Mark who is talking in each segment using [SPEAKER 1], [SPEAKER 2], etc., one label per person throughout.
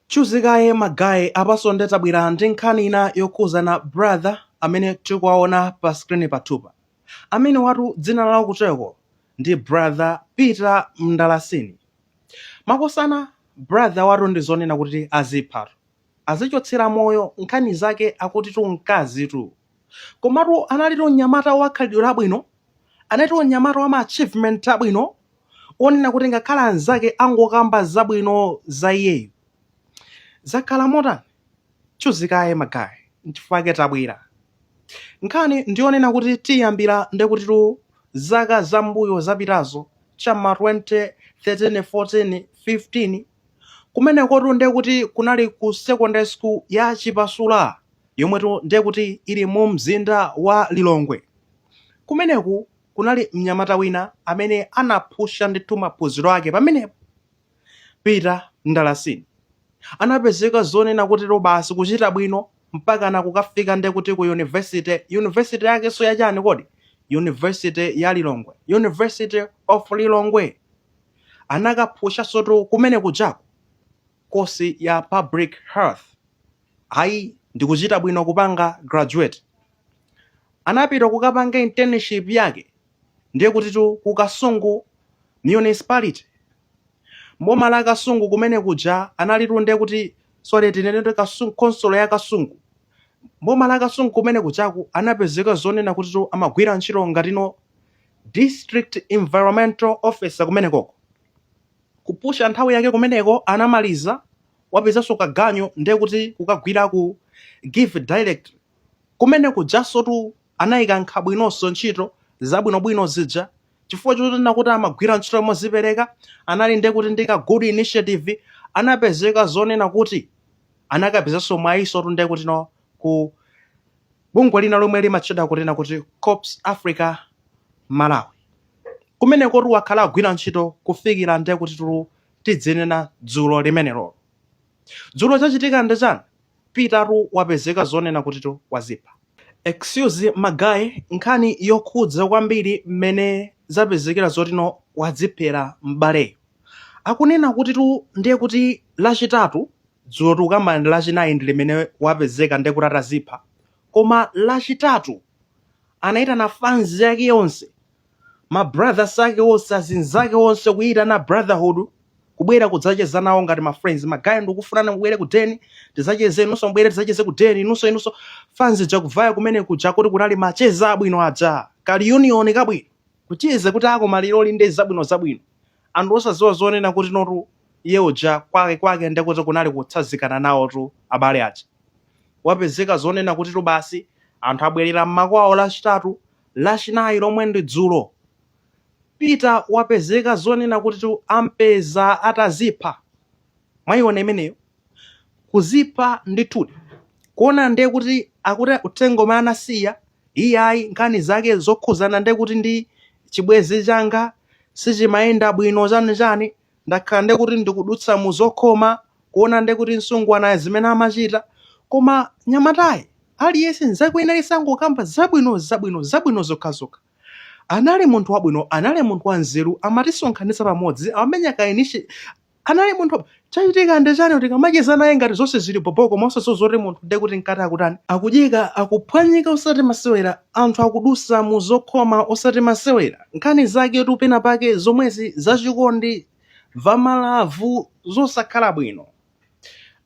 [SPEAKER 1] Chuzikaye magaye apanso nde tabwera ndi nkhani ina yokhudzana brother amene tikuwaona pa screen pathupa. Amenewatu dzina lawo kutero ndi brother Peter Ndalasini. Makosana brother watu ndi zonena kuti aziphatu. Azichotsera moyo nkhani zake akutitu mkazi tu. Komatu analitu mnyamata wa khalidwe labwino analitu mnyamata wa ma achievement abwino onena kuti ngakhale anzake angokamba zabwino za iyeyu zakhala motani chuzikaye magaye nchifukwa chake tabwera nkhani ndiyonena kuti tiyambire nde kutitu zaka za mmbuyo zapitazo cha m'ma 2013 14 15 Kumenekotu ndiye kuti kunali ku Secondary School ya Chipasula yomwetu ndiye kuti ili mumzinda wa Lilongwe. Kumeneku kunali mnyamata wina amene anapusha ndithu maphunziro ake pamenepo. Peter Ndalasini anapezeka zonena kutino basi kuchita bwino mpakana kukafika ndiye kuti ku university. University yakenso ya chani kodi? University ya Lilongwe, University of Lilongwe. anakapushansotu kumene kujako course ya public health ayi ndikuchita bwino kupanga graduate anapita kukapanga internship yake ndiye kutitu ku kasungu municipality mboma la kasungu kumene kuja analitu ndiye kuti sorry tinene kuti kasungu konsolo ya kasungu mboma la kasungu kumene kujako anapezeka zonena kutitu amagwira ntchito ngatino district environmental officer kumenekoko kupusha nthawi yake kumeneko anamaliza wapezanso kaganyu nde kuti kukagwira ku give direct kumene kujansotu anayika ka bwinonso ntchito zabwinobwino zija chifukwa chonena kuti amagwira ntchito mozipereka anali nde kuti ndi ka good initiative anapezeka zonena kuti anakapezanso mwayinsotu nde kutino ku bungwe lina lomwe limatchedwa kunena kuti cops africa malawi kumenekotu wakhala akugwira ntchito kufikira nde kutitu tidzinena dzulo limenelolo dzulo chachitika nde chani petertu wapezeka zonena kutitu wazipha excuse magaye nkhani yokhudza kwambiri mmene zapezekera zotino wadziphera m'baleyo akunena kutitu ndiye kuti lachitatu dzulo tikukambana ndi lachinayi ndi limene wapezeka ndi kuti atazipha koma lachitatu anayitana friends yake yonse ma brothers ake onse azinzake onse kuyitana brotherhood kubwera kudzacheza nawo ngati ma friends magaye ndikufunani mubwere ku deni tizacheze inunso mubwere tizacheze ku deni inunso inunso fans ija kuvaya kumene kuja kuti kunali macheza abwino aja kali union kabwino kucheza kuti ako maliro linde zabwino zabwino anthu osaziwa zonena kutinotu Iye uja kwake kwake nde kuti kunali kutsazikana nawotu abale ake. Kwapezeka zonena kutitu basi anthu abwerera m'makwawo Lachitatu, Lachinayi lomwe ndi dzulo. Peter wapezeka zonena kutitu ampeza atazipha. Mwayiona imeneyo? Kuzipha ndithudi. Kuona nde kuti akuti uthenga omwe anasiya, iye ayi nkhani zake zokhuzana nde kuti ndi chibwenzi changa sichimayenda bwino chani chani. ndakhala nde kuti ndikudutsa mu zokhoma kuona nde kuti msungwanayo zimene amachita koma nyamatayu aliyense nzake anali kungokamba zabwino zabwino zabwino zokhazokha anali munthu wabwino anali munthu wanzeru amatisonkhanitsa pamodzi amamenya ka English anali munthu wab- chachitika nde chani kuti kamacheza naye ngati zonse zili bobo koma osadziwa zoti munthu nde kuti mkati akutani akudyika akuphwanyika osati masewera anthu akudusa mu zokhoma osati masewera nkhani zaketu pena pake zomwezi zachikondi za malavu zosakhala bwino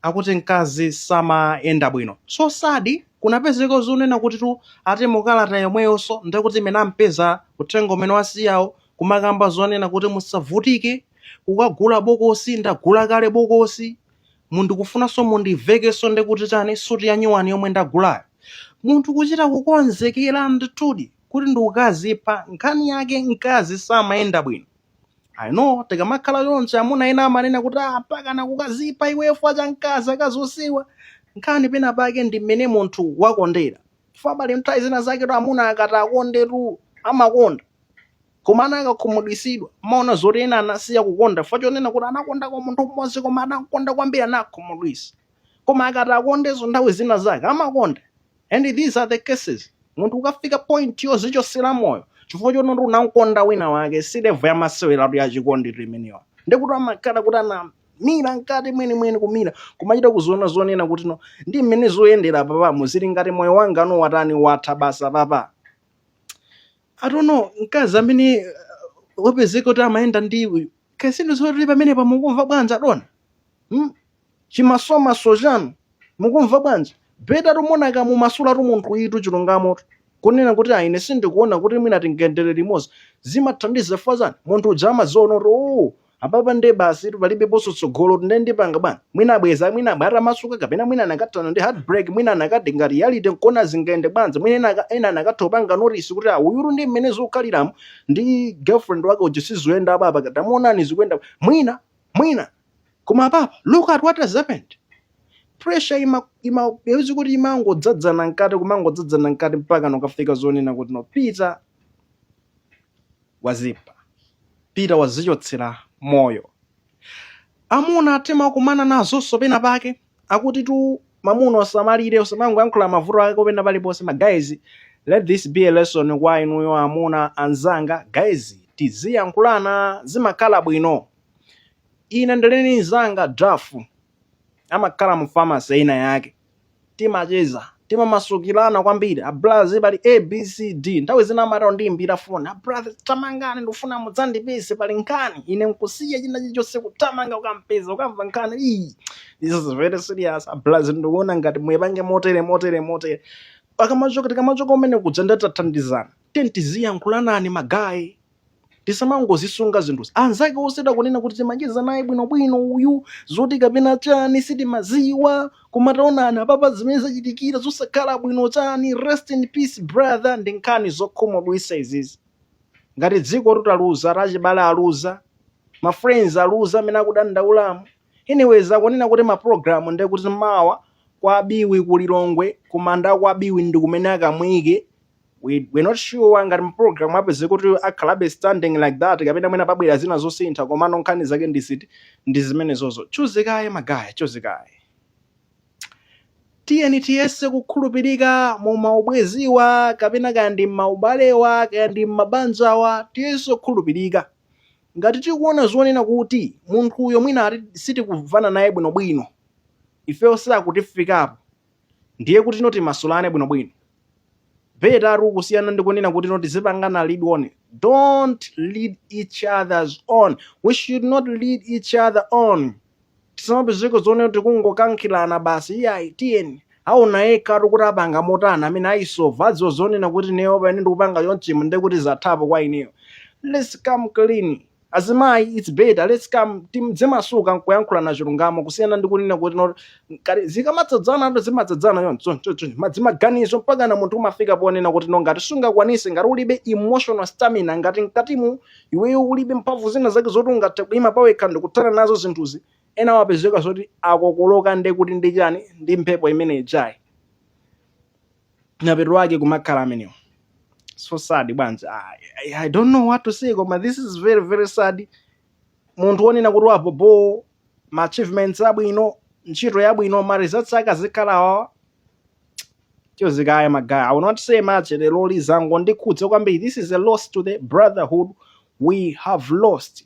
[SPEAKER 1] akuti mkazi samayenda bwino so sad kunapezeka zonena kutitu ati mukalata yomweyonso ndekuti imene ampeza uthenga umene wasiyawo amakamba zonena kuti musavutike kukagula bokosi ndagula kale bokosi ndikufunanso mundivekenso ndekuti chani suti yanyuwani yomwe ndagulayo munthu kuchita kukonzekera ndithudi kuti ndikukadzipha nkhani yake mkazi samayenda bwino I know tikamakhala chonchi amuna ena amanena kuti ah, mpaka kukadzipha iweyo chifukwa cha mkazi akazi osowa nkhani pena pake ndi mmene munthu wakondera chifukwa pali nthawi zina zaketu amuna akati akondetu amakonda koma anakakhumudwitsidwa mumaona zoti ena anasiya kukonda chifukwa chonena kuti anakonda kwa munthu mmodzi koma anakonda kwambiri anakhumudwitsidwa koma akati akondenso nthawi zina zake amakonda and these are the cases munthu ukafika point yozichosera moyo chifukwa chonoti unamkonda wina wake si levo yamaseweratu ya chikonditu imeneyo ndikuti amakhala kuti anamira mkati mwenimweni kumira kumachita kuziona zonena kuti no ndi mmene zikuyendera apapa mu zili ngati moyo wangano watani watha basi apapa I don't know mkazi amene eh, wapezeka kuti amayenda ndi uyu kaya inu zoti pamene apa mukumva bwanji adona hmm? Chimasomaso chanu mukumva bwanji? Better tu mukanamumasulatu munthuyitu chilungamotu kunena kuti ayi ine sindikuona kuti mwina tingaendere limodzi zimathandiza chifukwa chani munthu uja amaziona kuti oo apapa nde basitu palibeponso tsogolotu nde ndipanga bwanji mwina bweza mwina bwa atamasuka kapena mwina anakathana ndi heartbreak mwina anaka- ngati reality nkuona zingaende bwanji mwina ena aka- ena anakatha kupanga notice kuti ah uyutu ndi mmene zikukhaliramo ndi girlfriend wake uja sizikuyenda apapa tamuonani zikuyenda mwina mwina koma apapa look at what has happened pressure ima ima ija ndi yoti imangodzadzana mkati kumangodzadzana mkati mpaka nkukafika zonena kuti no peter wazipha peter wazichotsera moyo amuna amakumana nazonso pena pake akuti mamuna usamalira usamangoyankhula mavuto ako pena paliponse ma guys let this be a lesson kwa inuyo amuna anzanga guys tiziyankhulana zimakhala bwino ine ndili ndi mnzanga drafu amakhala mu pharmacy ina yake timacheza timamasukirana kwambiri abraz pali abcd nthawi zina amatha kundiimbira foni abraz tamangani ndikufuna mudzandipeze pali nkhani ine nkusiya china chilichonse kutamanga ukampeza ukamva nkhani iyi this is very serious abraz ndikuona ngati muyipange motere motere motere pakamachoka tikamachoka umene kuja nditathandizana tiyeni tiziyankhulanani ma guy tisamangozisunga zinthuzi anzake onse akunena kuti timacheza naye bwinobwino uyu zoti kapena chani sitimaziwa koma taonani apapa zimene zachitikira zosakhala bwino chani rest in peace brother ndi nkhani zokhumudwisa izizi ngati dziko taluza achibale aluza ma friends aluza amene akudandaulamo anyways akunena kuti ma program ndi kuti mawa kwa biwi ku lilongwe kumanda kwa biwi ndi kumene akamuike we we're not sure ngati program ipezeke kuti ikhalabe standing like that kapena mwina pabwera zina zosintha komano nkhani zake ndi ziti ndi zimenezozo chuzi kaye ma guy chuzi kaye tiyeni tiyese kukhulupirika mu maubwenziwa kapena kaya ndi maubalewa kaya ndi mabanjawa tiyese kukhulupirika ngati tikuona zonena kuti munthuyo mwina sitikuvana naye bwinobwino ifeyo sakutifikapo Ndiye kutino timasukirane bwino bwino better tu kusiyana ndikunena kutino tizipangana lead on don't lead each others on we should not lead each other on tisamapezeke zonena tikungokankhirana basi iyayi tiyeni aona yekhatu kuti apanga motani amene ayisova adziwa zonena kuti neyo pamene ndikupanga chonchimu ndiye kuti zathapo kwa ineyo let's come clean Azimayi its better lets come tidzimasuka nkuyankhulana chilungamo kusiyana ndi kunena kuti no ngati zikamadzadzana ndo zimadzadzana choncho choncho choncho m'mazimaganizo mpakana munthu umafika ponena kuti no ngati sungakwanise ngati ulibe emotional stamina ngati mkatimu iweyo ulibe mphamvu zina zake zoti ungathe kuima pawekha ndikuthana nazo zinthuzi ena apezeka zoti akokoloka nde kuti ndi chani ndi mphepo imene ijayi mapeto ake kumakhala amenewa so sad banja I, I, i don't know what to say koma this is very very sad munthu wonena kuti wa bhobho ma achievements abwino ntchito yabwino ma results ake azikhala awawa chozikaya magaya i will not say much lero koma zangondikhudza kwambiri this is a loss to the brotherhood we have lost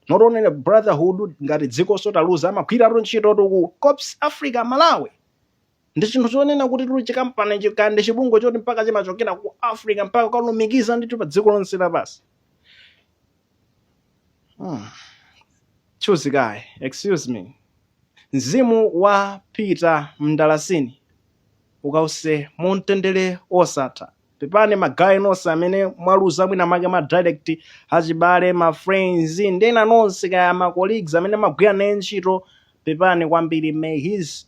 [SPEAKER 1] not only the brotherhood ngati dziko nso taluza amagwiratu ntchito yotukuka cops africa malawi ndi chinthu chonena kuti tuli chikampani chikande chibungwe choti mpaka chimachokera ku africa mpaka ukalumikiza ndithu pa dziko lonse lapansi hmm. excuse guys excuse me mzimu wa peter mdalasini ukause mumtendere osatha pepani magayi nonse amene mwaluza mwina make ma direct achibale ma friends ndi ena nonse kaya ma colleagues amene mumagwira naye ntchito pepani kwambiri may his